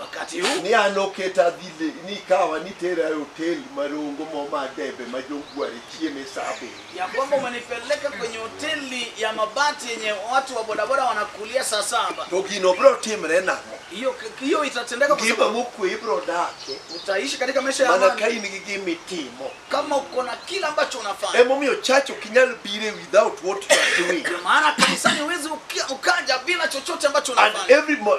wakati huu ni an oketa dhi le- ni kawa ni tera e hotel marongo mo ma debe ma jongware chieme sa abiriyo ya kwamba umenipeleka kwenye hoteli ya mabati yenye watu wa bodaboda wanakulia saa saba to gino biro timre nang'o hiyo hiyo itatendeka kwa ngima sababu mokwe ibiro dake utaishi katika maisha ya mana ka amani in gi gima itimo kama uko na kila ambacho unafanya emomiyo church ok inyal bire without what you are doing ndio maana kanisani huwezi ukia- ukaja bila chochote ambacho and unafanya every mo-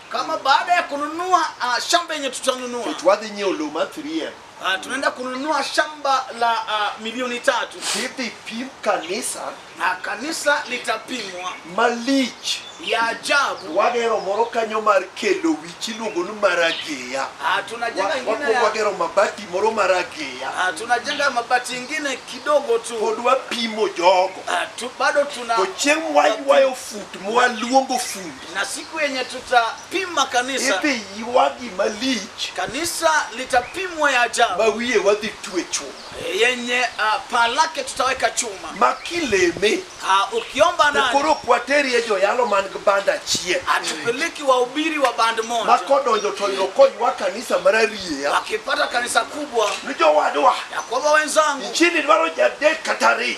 kama baada ya kununua uh, shamba yenye tutanunua to wadhi nyiewo lowo ma 3M. uh, tunaenda kununua shamba la uh, milioni tatu Idhi pim kanisa na kanisa litapimwa malich. ya ajabu Wagero moro kanyo mar kelo wich iluongo ni marageya. uh, tunajenga Wa- ingine Wakwongo ya, wagero mabati moro marageya. uh, tunajenga mabati ingine kidogo tu Pod wapimo jogo. uh, tu, bado tuna To chieng' waywayo fut mwaluongo fut. na siku yenye tutapima kanisa idhi ywa gima lich kanisa litapimwa ya ajabu ma wiye wadhi twe chuma yenye uh, paa lake tutaweka chuma ma kileme uh, ukiomba to ndani koro ok wateri e joyalo man gi band achiel atupeleki wahubiri wa band ma moja kodonjo to yudo koywa kanisa marariya wakipata kanisa kubwa ni jowadwa ya kwamba wenzangu nchini dwaro jadek kata ariyo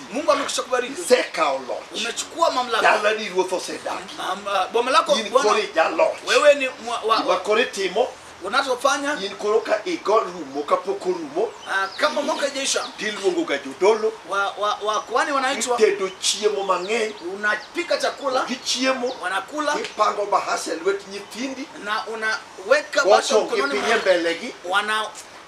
Mungu amekwisha kubariki. Isekawo loch. Umechukua mamlaka. Dalani ruoth osedagi. Mam- ah, Boma lako In koro Bwana, ijaloch. wewe ni mwa- wa- Gima koro itimo, unachofanya in koro ka igo rumo kapok orumo, ah, kama mwaka ijaisha tiluongoga jodolo, wa- wa- wakuhani wanaitwa, itedo chiemo mang'eny, unapika chakula, gichiemo, wanakula ipango bahasa e lwet nyithindi, na unaweka basha wacho mkononi gipinye mwao, mbelegi, wana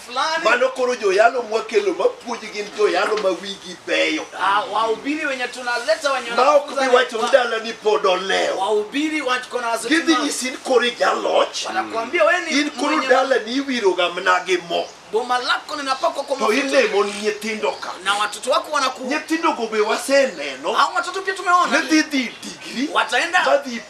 fulani Mano koro joyalo mwakelo mapuonji gin joyalo ma wigi beyo. ah, wahubiri wenye tunaleta wenye Ma ok wanafunza bi wacho ni ni dala ni pod olewo. wahubiri watu kona wazo Gidhi tuna- nyisi in koro ijaloch. wanakuambia wewe ni In koro mwenye- dala ni iwiroga mna gi mo. boma lako linapakwa kwa To mafuta ilemo ni nyithindo ka. na watoto wako wanaku Nyithindogo be waseneno. hao watoto pia tumeona Nidhi dhi digri. Wataenda- Madhi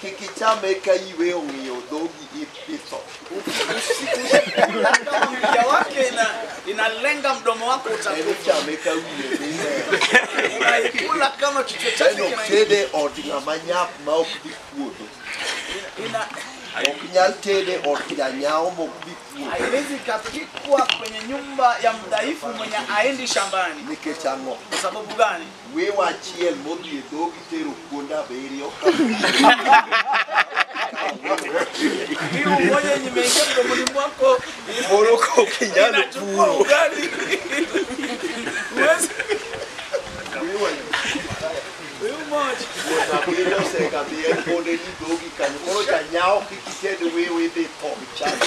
Kik ichame eka iwe ong'iyo dhogi ipitho. Kama mkia wake ina, inalenga mdomo wako En utakufa. ichame ka wiye dine. Unaikula kama kichwa En chake ok kina- tede od ng'ama nyap ma ok dhi puodho. ina Ok nyal tede od janyawo ma ok dhi puodho. haiwezi ikapikwa kwenye nyumba ya mdhaifu mwenye aendi shambani. Nikech ang'o? Kwa sababu gani? Wiwa achiel modhi e dhogi tero kuonde abiriyo. Moro ka ok inyal puro. Kuonde abiriyo osekadhi e kuonde ni dhogi kanyo. Koro janyawo kik ited wiwa idhi tho chande.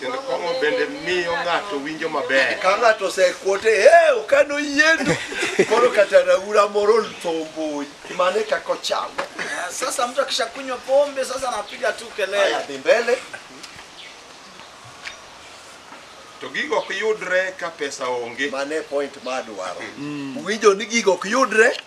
Kendo kong'o bende miyo ng'ato winjo maber. Ka ng'ato osekwote, ee okano yiendo. Koro kata raura moro oltho mbuyi. Mane kaka ochamo. Ah, Sasa mtu akishakunywa pombe sasa anapiga tu Haya, kelele. dhi mbele. To gigo ok yudre ka pesa onge. Mane point ma adwaro. Winjo ni gigo ok yudre.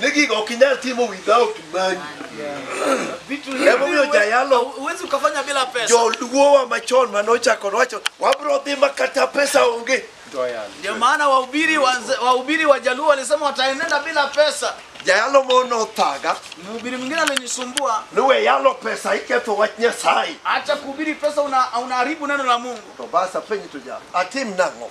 ni gigo ok inyal timo without money Vitu hivi Emomiyo huwe- jayalo. huwezi ukafanya bila pesa. joluowa machon mane ochako nowacho wabro dhi ma kata pesa onge Ndio maana wahubiri wanze- wahubiri wa Jaluo walisema wataenenda bila pesa. jayalo mo nothaga Mhubiri mwingine alinisumbua, ni we yalo pesa iketho wach nyasaye acha kuhubiri pesa, una- unaharibu neno la Mungu. to basa penj to ja atim nang'o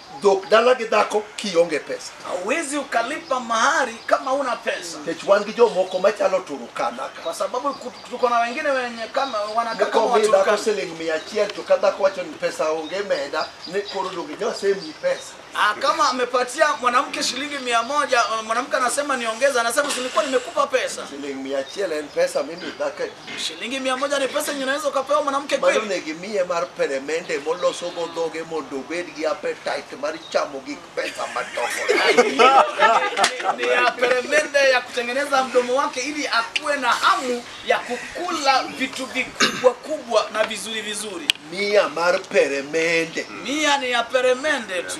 dhok dala gi dhako kionge pesa hauwezi ukalipa mahari kama una pesa nikech wan gi jomoko machalo turukana ka kwa sababu ku- tuko na wengine wenye kama wanakaa kama mokomi dhako waturukana siling mia achiel to ka dhako wacho ni pesa onge meda ni koro donge nyosemi pesa Ah, kama amepatia mwanamke shilingi mia moja ah, mwanamke anasema niongeza anasema sinikuwa nimekupa pesa siling mia achiel en pesa mimi dhako Shilingi mia moja ni pesa yenye unaweza ukapewa mwanamke Mano kweli? ne gimiye mar peremende moloso go dhoge mondo obed gi appetite mar chamo gik pesa madongo. Ni ya peremende ya kutengeneza mdomo wake ili akuwe na hamu ya kukula vitu vikubwa kubwa na vizuri vizuri. Mia mar peremende. Mia ni ya peremende tu.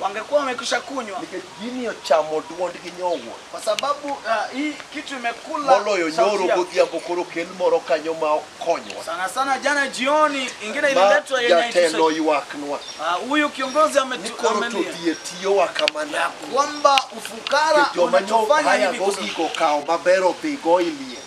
wangekuwa wamekwisha kunywa nikech gini ochamo dwondgi nyowuoyo kwa sababu ah, hii kitu imekula moloyo sauti nyoro yao. godhiambo koro kel moro kanyo ma okonywa sana sana jana jioni ingine ma ililetwa yenye jatelo haitusaidia. ywaknwa Ah, huyu kiongozi ni ametu- koro to amelia dhi e tiyowa kamana kwamba ufukara joma nyo unatufanya haya hivi kusudi. gogiko kawo maber odhigo ilie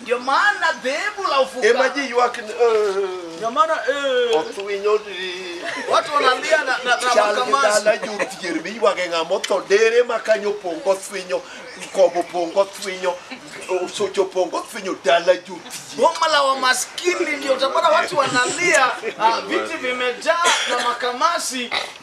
Ndio maana dhehebu la ufuka ema ji ywak ni, "Eh, ndio maana eh, oth winyo di watu wanalia na, na, na chal gi makamasi dala jodhier miywage ng'ama otho dere ma kanyo opong' gothwinyo kobo opong' gothwinyo osocho opong' gothwinyo dala jodhier boma la wamaskini ndio utapata watu wanalia ah, viti vimejaa na makamasi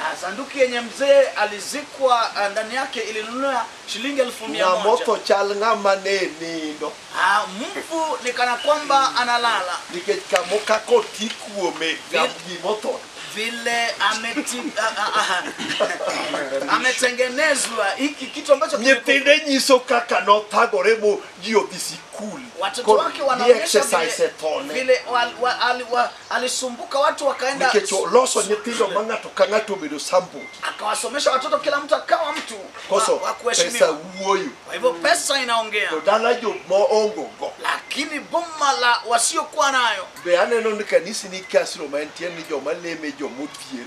Ah, sanduki yenye mzee alizikwa ah, ndani yake ilinunua shilingi elfu mia ng'ama moja otho chal ng'ama ne nindo Ah, mfu ni kana kwamba analala nikech kamo kaka oti kuome ngam gima otho vile ameti, ah, ah, ah, ametengenezwa hiki kitu ambacho kimekuwa- nyithinde nyiso kaka nothagore mo ji odhi sikul watoto koro wake ni wanaonyesha exercise vile, ethone vile wal, wa, ali, wa, alisumbuka watu wakaenda nikech oloso nyithindo ma ng'ato ka ng'ato obedo sample akawasomesha watoto kila mtu akawa mtu koso wa, wa pesa kuheshimiwa wuoyo kwa hivyo pesa inaongea to dala jo moongo go lakini boma la wasiokuwa nayo be aneno ni kanisi ni kasro ma en tiend ni joma leme jomodhier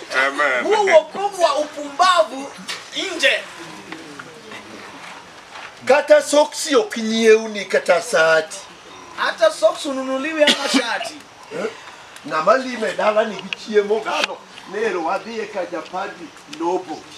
Amen. huo wokovu wa upumbavu nje kata soksi ok nyiewni kata sati hata socks ununuliwi ama shati ng'ama lime dala nigi chiemo gano nero wadhiye ka japadi nobo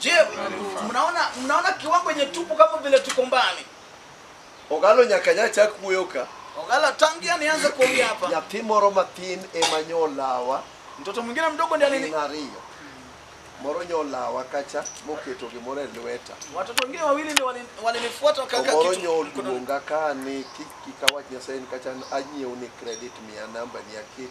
Je, mnaona mnaona kiwango yenye tupo kama vile tuko mbali? Ogalo nyaka nya chak wuoyo ka. Ogala tangia nianze kuongea hapa. Nyathi moro matin ema nyolawa Mtoto mwingine mdogo ndiye alini gin ariyo. Moro nyolawa kacha moketo gimoro e lweta. watoto wengine wawili ndio walini- walinifuata wakaweka Omoro kitu mkononi. nyoluonga ka ni kik kik awach Nyasaye ni kacha anyiew ni credit mia namba ni aket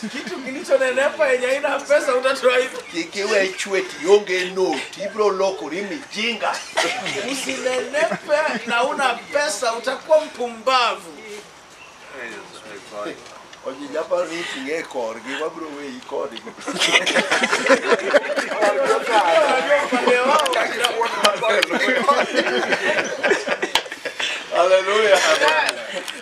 Kitu kilichonenepa yenye haina pesa utatoa hivi. Kik iwe chwet ionge noti, ibiro lokori mijinga. Usinenepe na una pesa utakuwa mpumbavu. Onye japaro ni iting'e e korgi, wabiro weyi kodgi. Hallelujah.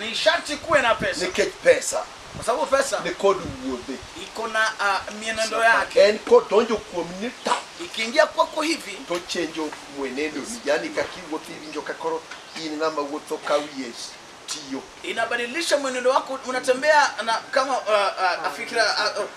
ni sharti kuwe na pesa nikech pesa kwa sababu pesa ni kod wuodhe iko na uh, mienendo yake en kodonjo kuom ni ta ikiingia kwako hivi to chenjo mwenendo ni yani kakiwuotho iwinjo ka koro in ng'ama wuotho ka wiye tiyo inabadilisha mwenendo wako unatembea na kama uh, uh, fikira uh, uh,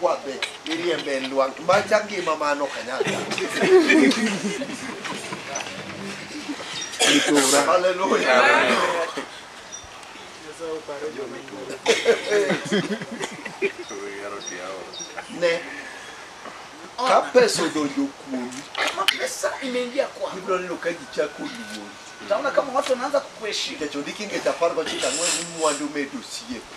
kwa be iriembe lwang' macha ngima mano kanyaka haleluya ne ka pesa odonjo kuomi Kama pesa imeingia kwako, ibiro neno ka ji chako luori utaona kama watu wanaanza kukuheshimu. nikech ondiki ngeche apar gochiko ang'wen ni mwandu medo osiepe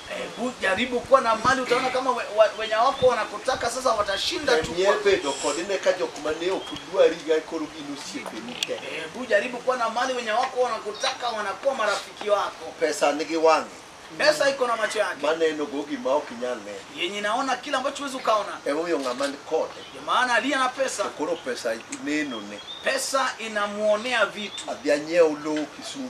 Hebu jaribu kuwa na mali, utaona kama we, wa, wenye wako wanakutaka sasa watashinda tu. Temie kwako. bedo kod ne ka jok ma ne ok dwari ga koro gin osiepeni te. Hebu jaribu kuwa na mali, wenye wako wanakutaka wanakuwa marafiki wako. Pesa nigi wang'e Pesa iko na macho yake maneno go gima ok inyal neno. yenye inaona kile ambacho huwezi ukaona. Emomiyo ng'ama ni kode Ndio maana aliye na pesa, to koro pesa nenone. pesa inamuonea vitu. Adhi anyiew lowo Kisumu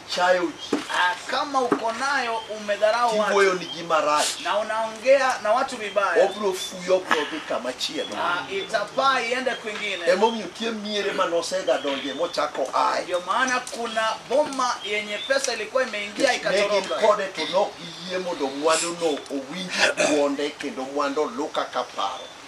chayo ji Ah, kama uko nayo umedharau watu kiwuoyo ni ji marach na unaongea na watu vibaya obro fuyo obro dhi kama chielo ah, itapaa iende kwingine emomiyo tie miere ma nosega donje mochako aye ndio maana kuna boma yenye pesa ilikuwa imeingia ne gin ikatoroka kode to nok giyie mondo mwanduno owinj dwonde kendo mwandu luka ka paro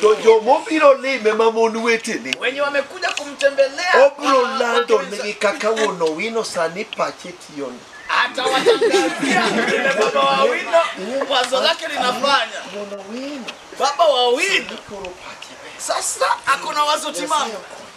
to joma obiro lime ma mon wetene wenye wamekuja kumtembelea obiro wa- lando wake nigi kaka wuon owino sani pache tiyoni atawatangazia vile baba wa wino wazo lake linafanya wuon owino baba wa wino koro pache ber sasa akona wazo timamu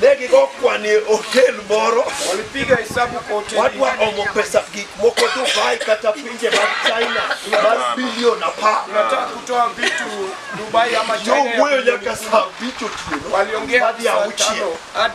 ne gigo kwane otel moro walipiga hesabu kwa hoteli wadwa omo pesa gik moko dubai kata pinje mag china mar bilion apar tunataka kutoa vitu Dubai ama China ya yowuoyo bilioni nyaka kumi. saa abich otieno waliongea hadi saa tano hadi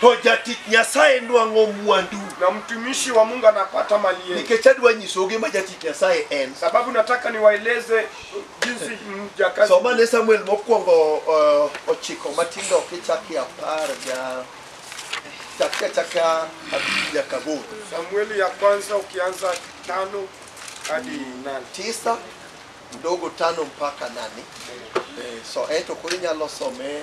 To jatich Nyasaye nwang'o mwandu. na mtumishi wa Mungu anapata mali yake. Nikech adwa nyisou gima jatich Nyasaye en. Sababu nataka niwaeleze jinsi mjakazi Soma ne Samuel mokwongo uh, ochiko matindo kichaki apar ga chaka chaka abich nyaka aboro. Samueli ya kwanza ukianza tano hadi nane. Tisa mdogo tano mpaka nane. Eh, so ento koro inyalo some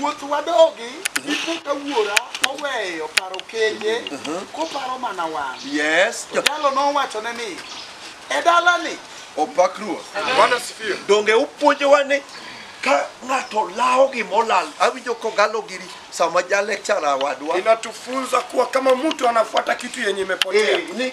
Wuoth wadogi ipo ka wuora oweyo paro kenje koparo mana wan. Yes. To jalo nowachone ni e dalani Opak Ruoth. Bwana asifiwe. Donge upuonjowa ni ka ng'ato lawo gima olal, awinjo kogalo giri sama ja lecturer wadwa. Inatufunza kuwa kama mtu anafuata kitu yenye imepotea. Eh, ni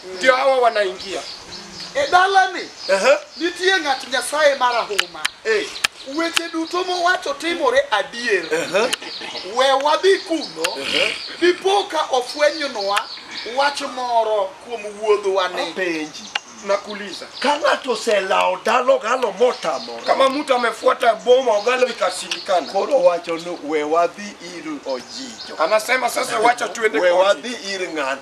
ndio hawa wanaingia E dalani Ehe. nitie ng'at Nyasaye marahuma. Eh. Weche duto mowacho timore adier. We wadhi kuno, dipo ka ofwenynwa wach moro kuom wuodhwani. Apenji. nakuuliza Ka ng'ato oselawo dalo galo motamore. kama mtu amefuata boma ogalo ikashindikana Koro wacho ni we wadhi ir ojijo. anasema sasa wacha tuende We kwa wadhi ir ng'an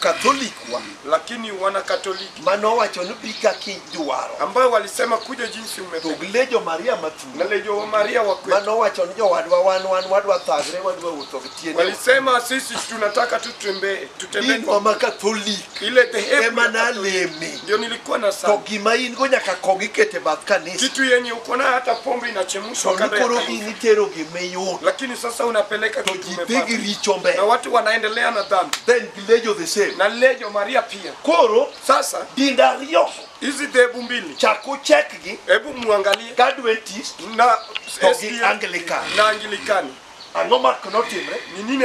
Catholic wa lakini wana Katoliki ma nowacho ni bi kaka idwaro. ambayo walisema kuja jinsi To umependa, gile jo Maria na mathuno lejo wa Maria wa ma kwetu nowacho ni jowadwa wan wan wadwa thagre wadwa wuotho gi tiende. walisema sisi tunataka tutembee tutembee Dinwa kwa ma Katholik ile dhehebu ema ya Katoliki. naleme. ndio nilikuwa na to sana gima in go nyaka kong ikete bath kanisa kitu yenye uko nayo hata pombe to inachemshwa ni kando ya koro in kanisa itero gima iyudo lakini sasa unapeleka to kitu ji dhi gi umepata richo na mbele watu wanaendelea na dhambi then gilejo the same na lejo maria pia koro sasa dinde ariyo hizi dhehebu mbili chak uchekgi hebu muangalie ka adventist na To gi SDA Anglican. na angilikani ang'o mak notimre ni nini